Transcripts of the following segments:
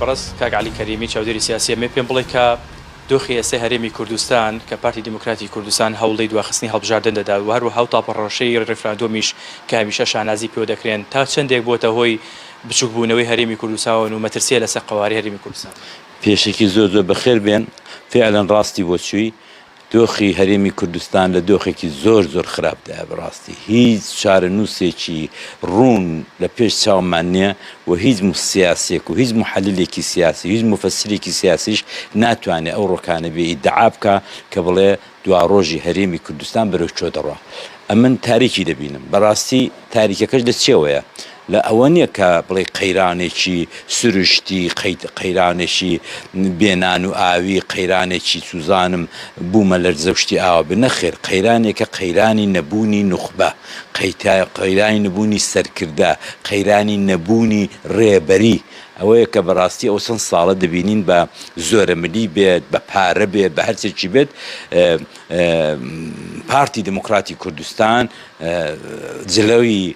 بەڕێز کاک عەلی کەریمی چاودێری سیاسی ئەمەوێت پێم بڵێت کە دۆخی ئێستای هەرێمی کوردستان کە پارتی دیموکراتی کوردستان هەوڵی دواخستنی هەڵبژاردن دەدات و هەروەها ئەو تاپەڕۆشەی ڕیفراندۆمیش کە هەمیشە شانازی پێوە دەکرێن تا چەندێک بۆتە هۆی بچووکبوونەوەی هەرێمی کوردستاون و مەترسییە لەسەر قەوارەی هەرێمی کوردستان؟ پێشەکی زۆر زۆر بەخێر بێن، فعلا ڕاستی بۆ چووی، دۆخی هەرێمی کوردستان لە دۆخێکی زۆر زۆر خراپدایە بەڕاستی هیچ چارەنووسێکی ڕوون لە پێش چاومان نییە و هیچ سیاسیەک و هیچ محەللێکی سیاسی هیچ موفەسرێکی سیاسیش ناتوانێ ئەو ڕۆکانە بێ ئیدعا بکا کە بڵێ دواڕۆژی هەرێمی کوردستان بەرەو چۆ دەڕوا ئەمن تاریکی دەبینم بەڕاستی تاریکەکەش لە چیەوەیە؟ لە ئەوە نیە کە بڵێی قەیرانێکی سروشتی، قەیرانێکی بێ نان و ئاوی، قەیرانێکی چوزانم بومە لەرزەو شتی ئاوا بێ، نەخێر قەیرانێکە قەیرانی نەبونی نوخبە، قەیرانی نەبونی سەرکردە، قەیرانی نەبونی ڕێبەری، ئەوەیە کە بەڕاستی ئەو چەند ساڵە دەبینین بە زۆرەملی بێت بە پارە بێت بە هەرچێکی بێت پارتی دیموکراتی کوردستان جلوی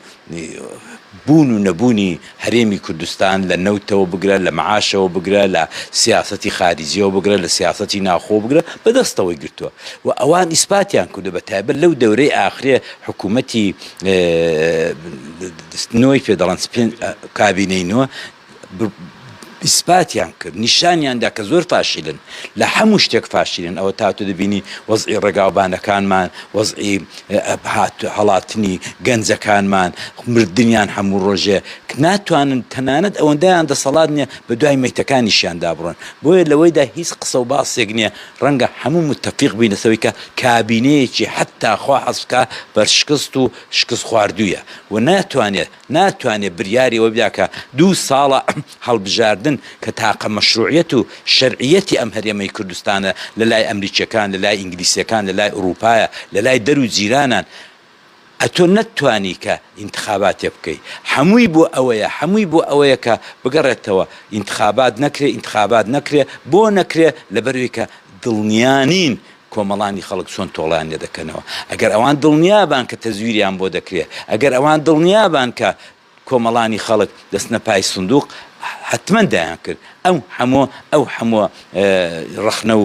بوون و نەبوونی هەرێمی کوردستان لە نەوتەوە بگرە، لە معاشەوە بگرە، لە سیاسەتی خاریجیەوە بگرە، لە سیاسەتی ناوخۆوە بگرە بە دەستەوەی گرتووە و ئەوان ئیسپاتیان کردووە بە تایبەت لەو دەورەی ئاخرێ حکوومەتی نۆی پێ دەڵێن کابینەی نۆ ئیسپاتیان کرد نیشانیان دا کە زۆر فاشیلن لە هەموو شتێک فاشیلن ئەوە تا تۆ دەبینی وەزعی ڕێگاوبانەکانمان وەزعی هات هەڵاتنی گەنجەکانمان مردنیان هەموو ڕۆژێ ناتوانن تەنانەت ئەوەندەیان دەسەڵات نییە بە دوای میتەکانیشیان دابڕن بۆیە لەوەیدا هیچ قسە و باسێک نییە ڕەنگە هەموو متتەفیق بووی لەسەوەی کە کابینەیەکی حتا خوا حەزکە بەرشکست و شکست خواردوویە و ناتوانێت ناتوانێت بریاری ئەوە بدا کە دوو ساڵە هەڵبژاردن کە تاقە مەشروعیەت و شەرعیەتی ئەم هەرێمەی کوردستانە لەلای ئەمریکیەکان لەلای ئینگلیسیەکان لەلای ئوڕووپایە لەلای دەر و جیرانان ئەتۆ نەتتوانی کە ئینتخاباتێ بکەی حەمووی بۆ ئەوەیە حەمووی بۆ ئەوەیە کە بگەڕێتەوە ئینتخابات نەکرێ ئینتخابات نەکرێ بۆ نەکرێ لەبەروەی کە دڵنیا نین کۆمەڵانی خەڵک چۆن تۆڵەیان لێ دەکەنەوە، ئەگەر ئەوان دڵنیابان کە تەزویریان بۆ دەکرێ، ئەگەر ئەوان دڵنیابان کە کۆمەڵانی خەڵک دەچنە پای سندوق، حەتمەن دەیانکرد، ئەو هەمووە ئەو هەمووە ڕەخنە و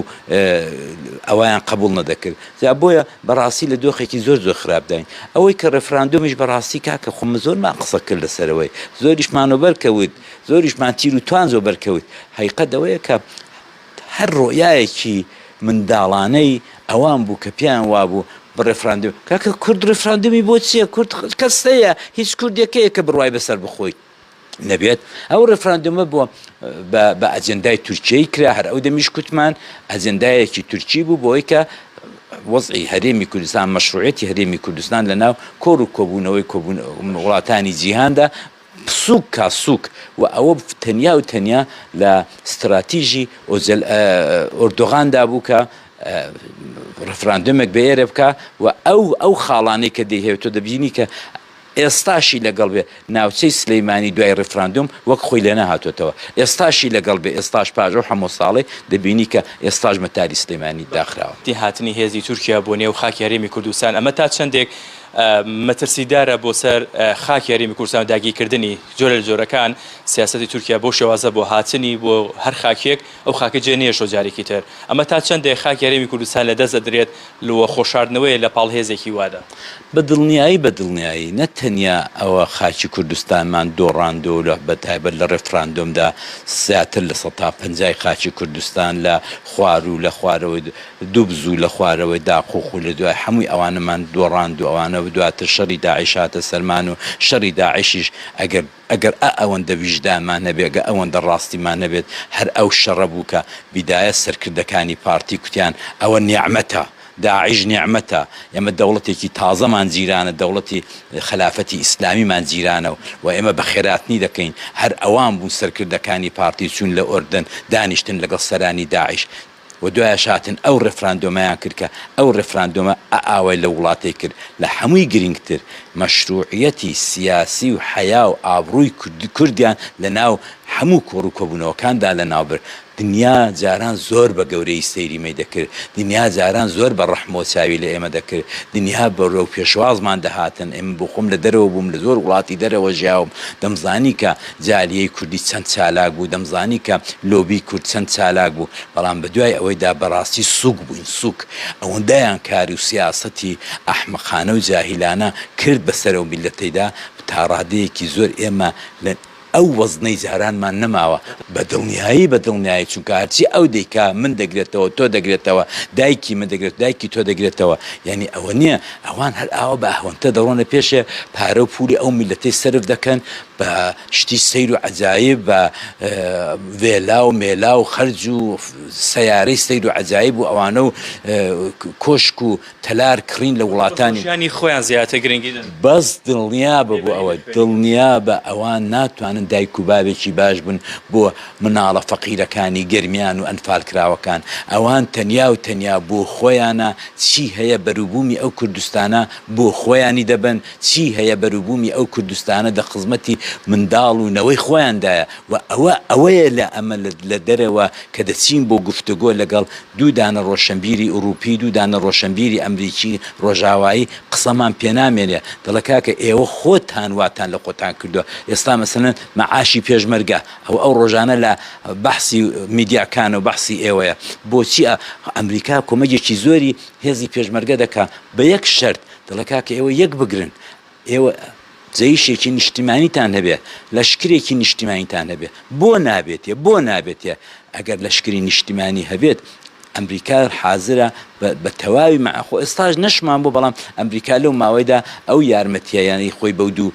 ئەوەیان قەبووڵ نەدەکرد، جا بۆیە بەڕاستی لە دۆخێکی زۆر زۆر خراپداین، ئەوەی کە ڕێفراندۆمیش بەڕاستی کاکە خۆ من زۆرمان قسە کرد لەسەرەوەی، زۆریشمان وەبەر کەوت، زۆریشمان تیر و توانج وەبەر کەوت، هەقیقەت ئەوەیە کە هەر ڕوئیایەکی منداڵانەی ئەوان بوو کە پێیان وابوو بە ڕێفراندم، کاکە کورد ڕێفراندمی بۆ چیە؟ کورد کەس هەیە؟ هیچ کوردێک هەیە کە بڕوای بە سەربەخۆی نەبێت؟ ئەو ڕێفراندمە بۆ بە ئەجندای تورکیەی کرا، هەر ئەو دەمیش کوتمان ئەجندایەکی تورکی بوو بۆی کە وەزعی هەرێمی کوردستان مەشروعیەتی هەرێمی کوردستان لە ناو کۆڕ و کۆبوونەوەی وڵاتانی جیهاندا سووک کا سووک و ئەوە تەنیا و تەنیا لە ستراتیژی ئۆجەل ئۆردۆغان دا بوو کە ڕفراندۆمێک بە ئێرە بکا و ئەو ئەو خاڵانەی کە دەیهێ تۆ دەبینی کە ئێستاشی لەگەڵ بێ ناوچەی سلەیمانی دوای ڕفراندۆم وەک خۆی لێ نەهاتۆتەوە ئێستاشی لەگەڵ بێ ئێستاش پاژە و هەموو ساڵێ دەبینی کە ئێستاش مەتاری سلەیمانی داخراوە. هاتنی هێزی تورکیا بۆ نێو خاکی هەرێمی کوردستان ئەمە تا چەندێک مەترسیدارە بۆ سەر خاکی هەرێمی کوردستان و داگیرکردنی جۆرە لە جۆرەکان، سیاسەتی تورکیا بەو شێوازە بۆ هاتنی بۆ هەر خاکێک ئەو خاکە جێ نەهێشتووە جارێکی تر ئەمە تا چەندێک خاکی هەرێمی کوردستان لە دەست دەدرێت و خۆشاردنەوەیە لە پاڵ هێزێکی وادا. بە دڵنیایی بە دڵنیایی نە تەنیا ئەوە خاکی کوردستانمان دۆڕاندووە و لە بە تایبەت لە ڕێفراندۆمدا زیاتر لە سەتا پەنجای خاکی کوردستان لە خواروو لە خوارەوەی دوو بزوو لە خوارەوەی داق و خوو لە دوای حەمووی ئەوانەمان دۆڕاند و ئەوانە دواتر شەڕی داعش هاتە سەرمان و شەڕی داعشیش ئەگەر ئەگەر ئە ئەوەندە ویژدانمان هەبێ ئەگەر ئەوەندە ڕاستیمان هەبێت هەر ئەو شەڕە بوو کە بیدایە سەرکردەکانی پارتی کوتیان ئەوە نیعمەتە داعش نیعمەتە ئێمە دەوڵەتێکی تازەمان جیرانە دەوڵەتی خەلافەتی ئیسلامیمان جیرانە و و ئێمە بە خێراتنی دەکەین هەر ئەوان بوون سەرکردەکانی پارتی چوون لە ئۆردەن دانیشتن لەگەڵ سەرانی داعش و دوایەش هاتن ئەو ڕێفراندۆمەیان کرد کە ئەو ڕێفراندۆمە ئاوای لەو وڵاتەی کرد، لە هەمووی گرینگتر مەشروعیەتی سیاسی و حەیا و ئابڕووی کوردیان لە ناو هەموو کۆڕ و کۆبوونەوەکاندا لە ناو برد، دنیا جاران زۆر بە گەورەیی سەیری مەی دەکرد، دنیا جاران زۆر بە ڕەحمەوە چاوی لە ئێمە دەکرد، دنیا بەرەو پێشوازمان دەهاتن، ئێمە بۆ خۆم لە دەرەوە بووم لە زۆر وڵاتی دەرەوە ژیاوم دەمزانی کە. جالیەی کوردی چەند چالاک بوو، دەمزانی کە لۆبی کورد چەند چالاک بوو، بەڵام بەدوای ئەوەیدا بەڕاستی سووک بووین سووک، ئەوەندەیان کار و سیاسەتی ئەحمەقانە و جاهیلانە کرد بەسەر ئەو میللەتەیدا، تا ڕادەیەکی زۆر ئێمە لە ئەو وەزنەی جارانمان نەماوە، بە دڵنیایی بە دڵنیایی، چونکە هەرچی ئەو دەیکا من دەگرێتەوە تۆ دەگرێتەوە، دایکی من دەگرێت دایکی تۆ دەگرێتەوە، یانی ئەوە نییە ئەوان هەر ئاوا بە ئەهوەنتە دەڕۆنە پێشێ، پارە و پوولی ئەو میللەتەی سەرف دەکەن، بە شتی سەیر و عەجایب بە ڤێلا و مێلا و خەرج و سەیارەی سەیر و عەجایب و ئەوانە و کۆشک و تەلار کڕین لە وڵاتانی ژیانی خۆیان زیاتر گرنگی دەن. بەس دڵنیا بە بۆ ئەوە دڵنیا بە ئەوان ناتوانن دایک و باوێکی باش بن بۆ مناڵە فەقیرەکانی گەرمیان و ئەنفال کراوەکان ئەوان تەنیا و تەنیا بۆ خۆیانە چی هەیە بەروبومی ئەو کوردستانە بۆ خۆیانی دەبەن چی هەیە بەروبوومی ئەو کوردستانە دە خزمەتی منداڵ و نەوەی خۆیاندایە و ئەوە ئەوەیە لە ئەمە لە دەرەوە کە دەچین بۆ گفتوگۆ لەگەڵ دوو دانە ڕۆشەنبیری ئوڕووپی دوو دانە ڕۆشەنبیری ئەمریکی ڕۆژاوایی قسەمان پێ نامێنێ دەڵێ کاکە ئێوە خۆتان واتان لە خۆتان کردووە ئێستا مەسەلەن مەعاشی پێشمەرگە ئەوە ئەو ڕۆژانە لە بەحسی میدیاکانە و بەحسی ئێوەیە بۆچی ئەمریکا کۆمەگێکی زۆری هێزی پێشمەرگە دەکا بە یەک شەرت دەڵێ کاکە ئێوە یەک بگرن ئێوە جەیشێکی نیشتیمانیتان هەبێ لەشکرێکی نیشتیمانیتان هەبێ بۆ نابێتێ بۆ نابێتێ ئەگەر لەشکری نیشتیمانی هەبێت ئەمریکا حازرە بە تەواوی مەخۆ ئێستاش نەشمان بۆ بەڵام ئەمریکا لەو ماوەیدا ئەو یارمەتییانی خۆی بەو دوو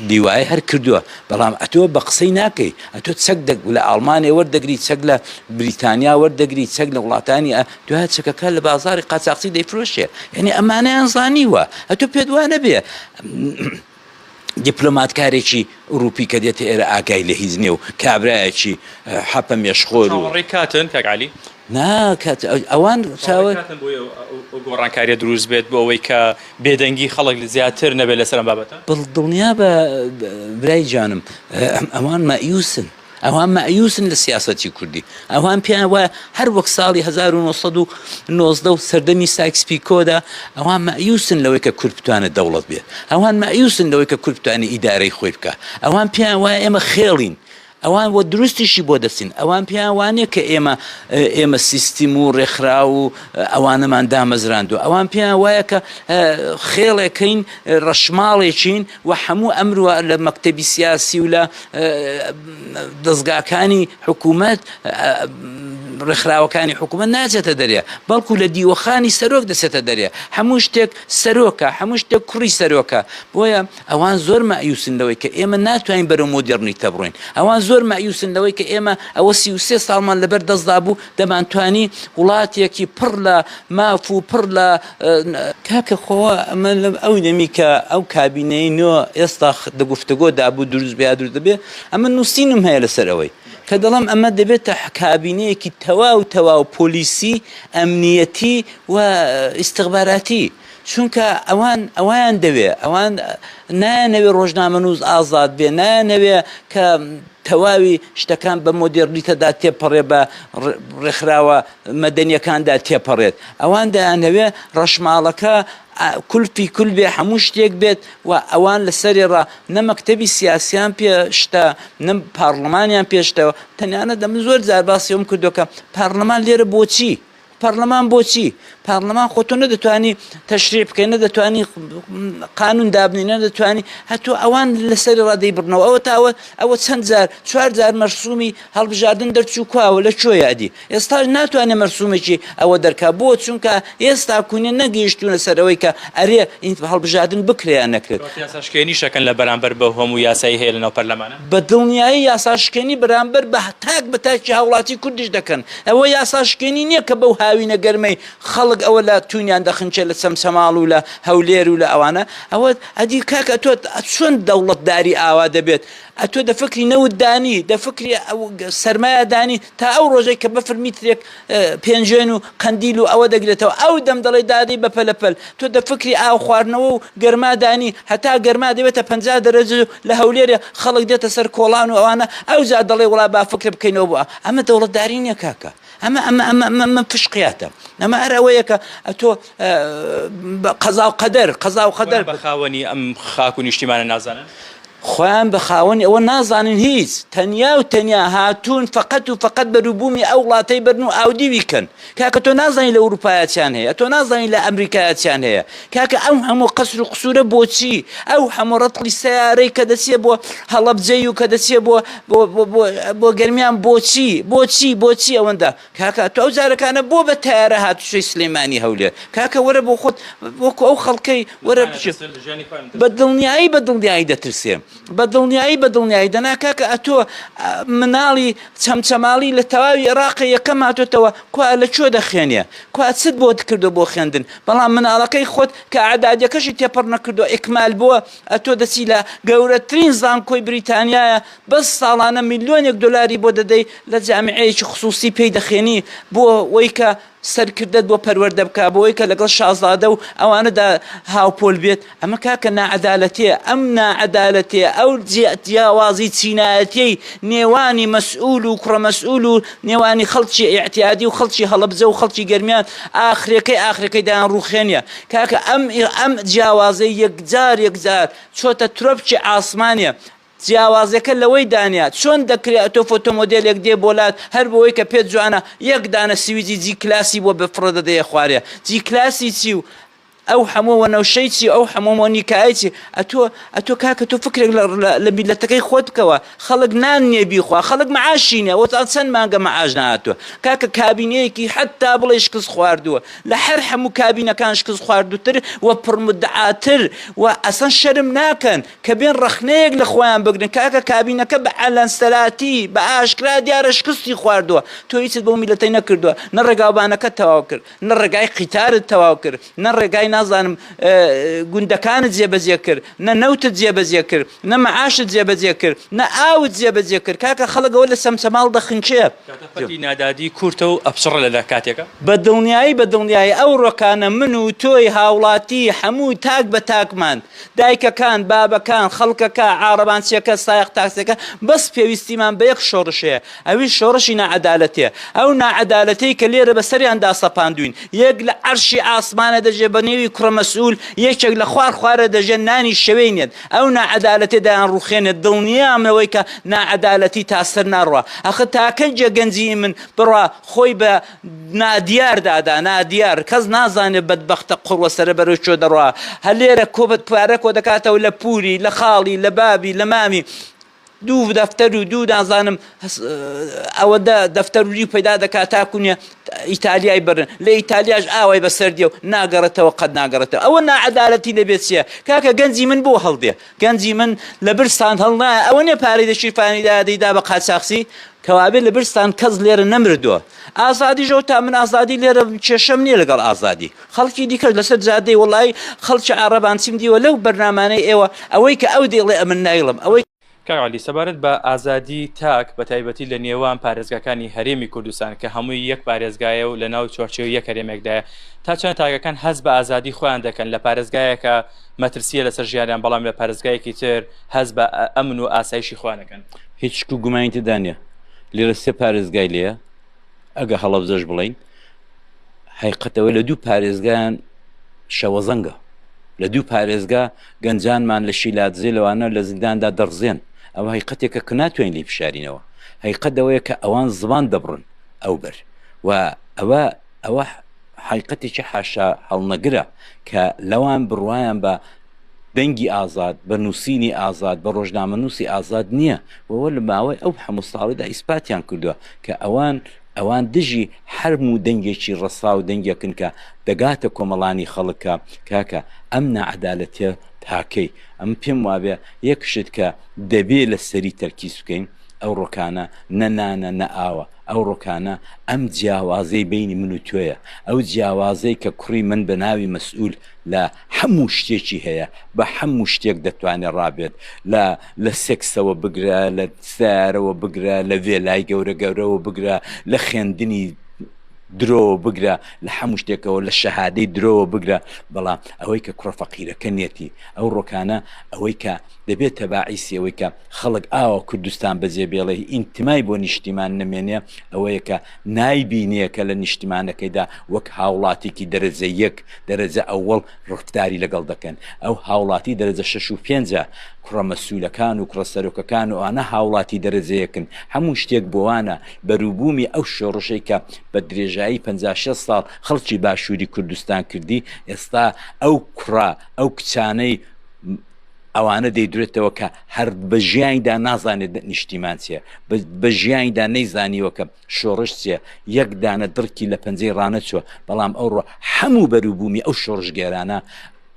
لیوای هەر کردووە بەڵام ئەتۆ بە قسەی ناکەی ئەتۆ چەک دەک لە ئاڵمانێ وەردەگری چەک لە بریتانیا وەردەگری چەک لە وڵاتانی دوایە چەکەکە لە بازاری قاچاخچی دەیفرۆشێ یعنی ئەمانەیان زانیوە ئەتو پێت وانە بێ دیپلۆماتکارێکی ئوروپی کە دێتە ئێرە ئاگای لە هیچ نیێ و کابراایەکی حەپە مێشخۆر و ڕێکاتن کاگالی ناکات ئەوان چاوە گۆڕانکاریە دروست بێت بۆ ئەوەی کە بێدەنگی خەڵک زیاتر نەبێت لەسەر بابەتە بڵ دڵنیا بە برای جانم ئەوان مەئیوسن ئەوان مەئیوسن لە سیاسەتی کوردی، ئەوان پێیان وایە هەر وەک ساڵی هەزار و نۆ سەد و نۆزدە و سەردەمی سایکس پیکۆدا، ئەوان مەئیوسن لەوەی کە کورد بتوانێت دەوڵەت بێت، ئەوان مەئیوسن لەوەی کە کورد بتوانێت ئیدارەی خۆی بکات، ئەوان پێیان وایە ئێمە خێڵین، ئەوان وە دروستیشی بۆ دەچن، ئەوان پێیان وا نییە کە ئێمە ئێمە سیستم و ڕێکخراو و ئەوانەمان دامەزراندووە، ئەوان پێیان وایە کە خێڵێکین، ڕەشماڵێکین و هەموو ئەمروا لە مەکتەبی سیاسی و لە دەزگاکانی حکوومەت ڕێکخراوەکانی حکوومەت ناچێتە دەرێ بەڵکو لە دیوەخانی سەرۆک دەچێتە دەرێ هەموو شتێک سەرۆکە هەموو شتێک کوڕی سەرۆکە بۆیە ئەوان زۆر مایوسن لەوەی کە ئێمە ناتوانین بەرەو مۆدررنی تەبڕین ئەوان زۆر مایوسن لەوەی کە ئێمە ئەوە سی و سێ ساڵمان لەبەر دەستدا بوو دەمانتوانی وڵاتێکی پڕ لە ماف و پڕ لە کاکە خۆ ئەمە لەم ئەو دەمی کە ئەو کابینەی نۆ ئێستا دە گفتگۆ دابوو دروست بیا دروست دەبێ ئەمە نووسینم هەیە لەسەر ئەوەی کە دەڵم ئەمە دەبێتە کابینەیەکی تەواو تەواو پۆلیسی ئەمنیەتی و ئیسیخباراتی چونکە ئەوان ئەویان دەوێ ئەوان نایانەوێ ڕۆژنامە نووز ئازاد بێ نایانەوێ کە تەواوی شتەکان بە مۆدێڕنیتەدا تێپەڕێ بە ڕێکخراوە مەدەنیەکاندا تێپەڕێت ئەوان دەیانەوێ ڕەشماڵەکە کولپی کول بێ هەموو شتێک بێت و ئەوان لە سەرێ ڕا نە مەکتەبی سیاسیان پێشتە نە پارلمانیان پێشتەوە تەنانە دەم زۆر جار باسیەوەم کردوەکە پارلمان لێرە بۆچی پەڕلەمان بۆچی پەڕلەمان خۆ تۆ نەدەتوانی تەشریع بکەی نەدەتوانی قانون دابنی نەدەتوانی هەتو ئەوان لەسەری ڕادەی بڕنەوە ئەوە تاوە ئەوە چەند جار چوار جار مەرسومی هەڵبژاردن دەرچوو کواوە لە کوێیە ئەدی ئێستاش ناتوانێت مەرسومێکی ئەوە دەرکا بۆ چونکە ئێستا کوونە نەگەیشتونە سەرەوەی کە ئەرێ ئینت هەڵبژاردن بکریان نەکرێت یاساشکێنیشەکەن لە بەرامبەر بە هەموو یاسایی هەیە لەناو پەرلەمانە بە دڵنیایی یاساشکێنی بەرامبەر بە تاک بە تاکی هاوڵاتی کوردیش دەکەن. ئەوە یاساشکێنی نیە کە بەو هاوینە گەرمەی خەڵک ئەوە لە توونیان دەخنچێ لە چەمچەماڵ و لە هەولێر و لە ئەوانە. ئەوە ئەدی کاک ئەتۆ چۆن دەوڵەتداری ئاوا دەبێت؟ ئەتۆ دە فکری نەوت دانی، دە فکری سەرمایە دانی تا ئەو ڕۆژەی کە بەفر میترێک پێنجوێن و قەندیل و ئەوە دەگرێتەوە ئەو دەم دەڵێ دادەی بە پەلەپەل تۆ دە فکری ئاو خواردنەوە و گەرمادانی هەتا گەرما دەبێتە پ دەرەج لە هەولێرێ خەڵک دێتە سەر کۆڵان و ئەوانە ئەو جا دەڵێ وڵا با فکر بکەینەوە بووە ئەمە دەوڵەتداری نییە کاکە ئەمە ئەمە ئەمە ئەمە فشقیاتە ئەمە ئەرەوەیەکە ئەتۆ قەزاو قەدەر قەزاو قەدەر بە خاوەنی ئەم خاک و نیشتیمانە نازانن خۆیان بە خاوەنی ئەوە نازانن هیچ تەنیا و تەنیا هاتوون فقط و فقط بەروبوومی ئەو وڵاتەی بەرن و ئاودیوی کەن کاکە تۆ نازانین لە ئەوروپایەتیان هەیە تۆ نازانین لە ئەمریکایەتیان هەیە کاکە ئەم هەموو قەسر و قسوورە بۆچی ئەو هەموو ڕەتڵی سیارەی کە دەچێ بۆ هەڵەبجەی و کە دەچێ بۆ بۆ گەرمیان بۆچی بۆچی بۆچی ئەوەندە کاکە تۆ ئەو جارەکانە بۆ بە تەیارە هاتوچۆی سلێمانی هەولێر کاکە وەرە بۆ خۆت وەکو ئەو خەڵکەی وەرە بچێت بە دڵنیایی بە دڵنیایی دەترسێ بە دڵنیایی بە دڵنیایی دەنا کاکە ئەتۆ مناڵی چەمچەماڵی لە تەواوی عێراقی یەکەم هاتۆتەوە کوا لە چۆ دەخێنێ کوا چت بۆ دکردو بۆ خوێندن بەڵام مناڵەکەی خۆت کە عدادەکەشی تێپەڕ نەکردو ئیکمال بووە ئەتۆ دەچی لە گەورەترین زانکۆی بریتانیایە بەس ساڵانە ملیۆنێک دۆلاری بۆ دەدەی لە جامیعەیەکی خسووسی پێی دەخێنی بۆ وەی کە سەرکردەت بۆ پەروەردە بکا بۆ وەی کە لەگەڵ شازادە و ئەوانەدا هاوپۆل بێت ئەمە کاکە ناعەدالەتیە ئەم ناعەدالەتیە ئەو جیاوازی چینایەتیەی نێوانی مەسئول و کوڕە مەسئول و نێوانی خەڵکی ئیعتیادی و خەڵکی هەڵەبجە و خەڵکی گەرمیان ئاخرەکەی ئاخرەکەی دایان ڕووخێنە کاکە ئەم ئەم جیاوازەی یەکجار یەکجار چۆتە ترۆپکی عاسمانێ جیاوازیەکە لەوەی دانە چۆن دەکرێ ئەتۆ فۆتۆمۆدێلێک دێ بۆ لات هەر بۆ ئەوەی کە پێت جوانە یەک دانە سویجی جی کلاسی بۆ بفڕە دەدەیە خوارێ جی کلاسی چی و ئەو هەموو وەنەوشەی چی ئەو هەموو مۆنیکای چی ئەتۆ ئەتۆ کاکە تۆ فکرێک لە میلەتەکەی خۆت بکەوە خەڵک نان نییە بیخوا خەڵک معاشی نییە وەزان چەند مانگە معاش نهاتوە کاکە کابینەیەکی حتا بڵێ شکست خواردووە لە هەر هەموو کابینەکان شکست خواردوتر و پڕمدعاتر و ئەسەن شەرم ناکەن کە بێن ڕەخنەیەک لە خۆیان بگرن کاکە کابینەکە بە عەلەنسەراتی بە ئاشکرا دیارە شکستی خواردووە تۆ هیچت بۆ میلەتەی نەکردووە نە ڕێگاوبانەکە تەواو کرد نە ڕێگای قیتارت تەواو کرد نە ڕێگای نازانم گوندەکانت جێبەجێ کرد نە نەوتت جێبەجێ کرد نە مەعاشت جێبەجێ کرد نە ئاوت جێبەجێ کرد کاکە خەڵەگەوە لە سەمسەماڵ دەخنکێ نادادی کورتە و ئەپچڕە لەدا کاتێکە بە دڵنیایی بە دڵنیایی ئەو ڕۆکانە من و تۆی هاوڵاتی هەموو تاک بە تاکمان دایکەکان، بابەکان، خەڵکەکە، عارەبانچیەکە، سایەق تاکسیەکە، بەس پێویستیمان بە یەک شۆڕش هەیە، ئەویش شۆڕشی ناعەدالەتێ، ئەو ناعەدالەتەی کە لێرە بە سەریاندا سەپاندوین، یەک لە عەرشی ئاسمانە دەژێ بە نێوی کوڕە مەسئول، یەکێک لە خوار خوارە دەژێ نانی شەوێی نێت، ئەو ناعەدالەتێ دایانڕوخێنێت، دڵنیام لەوەی کە ناعەدالەتی تا سەر ناڕوا، ئەخە تا کەی جێ گەنجیی من بڕا خۆی بە نادیار دادا نادیار کەس نازانێت بەدبەختە قوڕوە سەرە بەرەو چۆ دەڕوا هەر لێرە کۆبت پارە کۆ دەکاتەوە لە پوری لە خاڵی لە بابی لە مامی دوو دەفتەر و دوو دازانم ئەوە دە دەفتەر وری پەیدا دەکات تاکوونیە ئیتالیای برن لە ئیتالیاش ئاوای بەسەر دیێ و ناگەڕێتەوە قەت ناگەڕێتەوە ئەوە ناعەدالەتی لەبێت چیە کاکە گەنجی من بۆ هەڵدێ گەنجی من لە برسان هەڵنایە ئەوە نیە پارەی لە شیفانی دا دەیدا بە قاچاخچی کەوابێ لە برسان کەس لێرە نەمردووە ئازادی ژەوت تا من ئازادی لێرە کێشەم نییە لەگەڵ ئازادی خەڵکی دیکەش لەسەر جادەی وڵی خەڵکی عربان چیم دیوە لەو بەرنامانەی ئێوە ئەوەی کە ئەو دێڵێ ئەمن نایڵم ئەوەی کاک عەلی سەبارەت بە ئازادی تاک بە تایبەتی لە نێوان پارێزگاکانی هەرێمی کوردستان کە هەمووی یەک پارێزگایە و لە ناو چوارچێوەی یەک هەرێمێکدایە تا چەند تاکەکان هەست بە ئازادی خۆیان دەکەن لە پارێزگایەکە مەترسیە لەسەر ژیانیان بەڵام لە پارێزگایەکی تر هەست بە ئەمن و ئاسایشی خۆیان دەکەن. هیچ شک و گومانی تێدا نیە لێرە سێ پارێزگای لێیە ئەگە هەڵەبجەش بڵێین هەیقەت ئەوەی لە دوو پارێزگایان شەوەزەنگە لە دوو پارێزگا گەنجانمان لە شیلادزێ لەوانە لە زینداندا دەڕزێن ئەوە هەیقەتێکە کە ناتوانین لی بشارینەوە هەیقەت ئەوەیە کە ئەوان زبان دەبڕن ئەو بەر و ئەوە ئەوە حەیقەتێکی حاشا هەڵنەگرە کە لەوان بڕوایان بە دەنگی ئازاد بە نووسینی ئازاد بە ڕۆژنامەنووسی ئازاد نییە وەوە لە ماوەی ئەو هەموو ساڵیدا ئیسپاتیان کردووە کە ئەوان ئەوان دژی حرم و دەنگێکی ڕسا و دەنگێکن کە دەگاتە کۆمەڵانی خەڵکە کاکە ئەم نەعەدالەتێ تاکەی ئەم پێم وابێ یەکشت کە دەبێ لە سەری تەرکیز بکەین ئەو ڕۆکانە نەنانە نە ئاوە ئەو ڕوکانە ئەم جیاوازەی بەینی من و تۆیە، ئەو جیاوازەی کە کوڕی من بە ناوی مەسئول لە حەموو شتێکی هەیە، بە حەموو شتێک دەتوانێ ڕابێت، لە لە سێکسەوە بگرە، لە سەیارەوە بگرە، لە ڤێلای گەورە گەورەوە بگرە، لە خێندنی درۆوە بگرە، لە حەموو شتێکەوە، لە شەهادەی درۆوە بگرە، بەڵام ئەوەی کە کوڕە فەقیرەکە نیەتی، ئەو ڕوکانە ئەوەی کە دەبێتە باعیسی ئەوەی کە. خەڵک ئاوا کوردستان بەجێ بێڵێ ئینتمای بۆ نیشتیمان نەمێنێ ئەوەیە کە نایبینێ کە لە نیشتیمانەکەیدا وەک هاوڵاتیکی دەرەجە یەک، دەرەجە ئەوەڵ ڕفداری لەگەڵ دەکەن. ئەو هاوڵاتی دەرەجە شەش و پێنجە. کوڕە مەسوولەکان و کوڕە سەرۆکەکان ئەوانە هاوڵاتی دەرەجە یەکن. هەموو شتێک بۆوانە. بەرووبوومی ئەو شۆڕشەی کە بە درێژایی پەنجا شێست ساڵ خەڵکی باشووری کوردستان کردی ئێستا ئەو کوڕە ئەو کچانەی، ئەوانە دەیدرێتەوە کە هەر بە ژیانیدا نازانێت نیشتیمان چیە بە ژیانیدا نەیزانیوەکە شۆڕش چیە یەک دانە دڕکی لە پەنجەی ڕانەچوە بەڵام ئەوڕۆ هەموو بەروبوومی ئەو شۆڕشگێرانە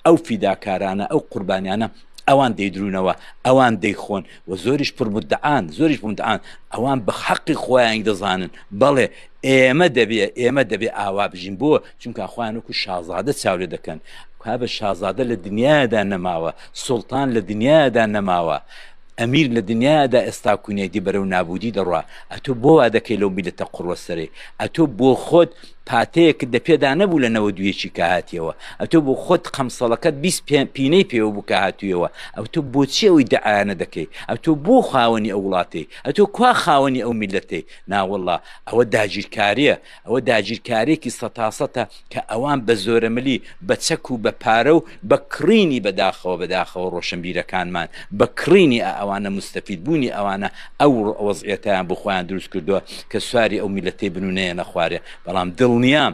ئەو فیداکارانە ئەو قوربانیانە ئەوان دەیدرونەوە ئەوان دەیخۆن و زۆریش پرمدعاان زۆریش بمدعاان ئەوان بە حەقی خۆیانی دەزانن بەڵێ ئێمە دەبێ ئێمە دەبێ ئاوا بژین بۆ چونکە خۆیان وەکو شازادە چاو لێ دەکەن کا بە شازادە لە دنیادا نەماوە سوڵتان لە دنیادا نەماوە ئەمیر لە دنیادا ئێستا کونێتی بەرەو نابودی دەڕوا ئەتۆ بۆ وا دەکەی لەو میلەتە قڕوەسەرێ ئەتۆ بۆ خۆت پاتەیەکت دە پێدا نەبوو لە نەوە دوێکی کە هاتیەوە ئەتۆ بۆ خۆت قەمسەڵەکەت پینەی پێوە بوو کە هاتوویەوە ئەو تۆ بۆچی ئەوی دەعاانە دەکەی ئە تۆ بۆ خاوەنی ئەو وڵاتی ئە تۆ کوا خاوەنی ئەو میلەتی ناوەله ئەوە داگیرکاریە ئەوە داگیرکاریەکی سەتاسەتە کە ئەوان بە زۆرەملی بە چەک و بە پارە و بە کڕینی بەداخەوە بەداخەوە ڕۆشنبیرەکانمان بە کڕینی ئەوانە مستەفید بوونی ئەوانە ئەو ئەوەزعەتیان بخۆیان دروست کردووە کە سواری ئەو میلەتەی بنونەیە نەخوارێ بەڵام دڵنیا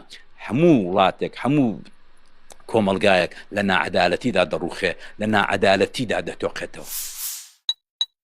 هەموو وڵاتێک هەموو کۆمەلگایەک لە ناعەدالەتیدا دەڕوخێ لە ناعەدالەتیدا دەتۆقێتەوە.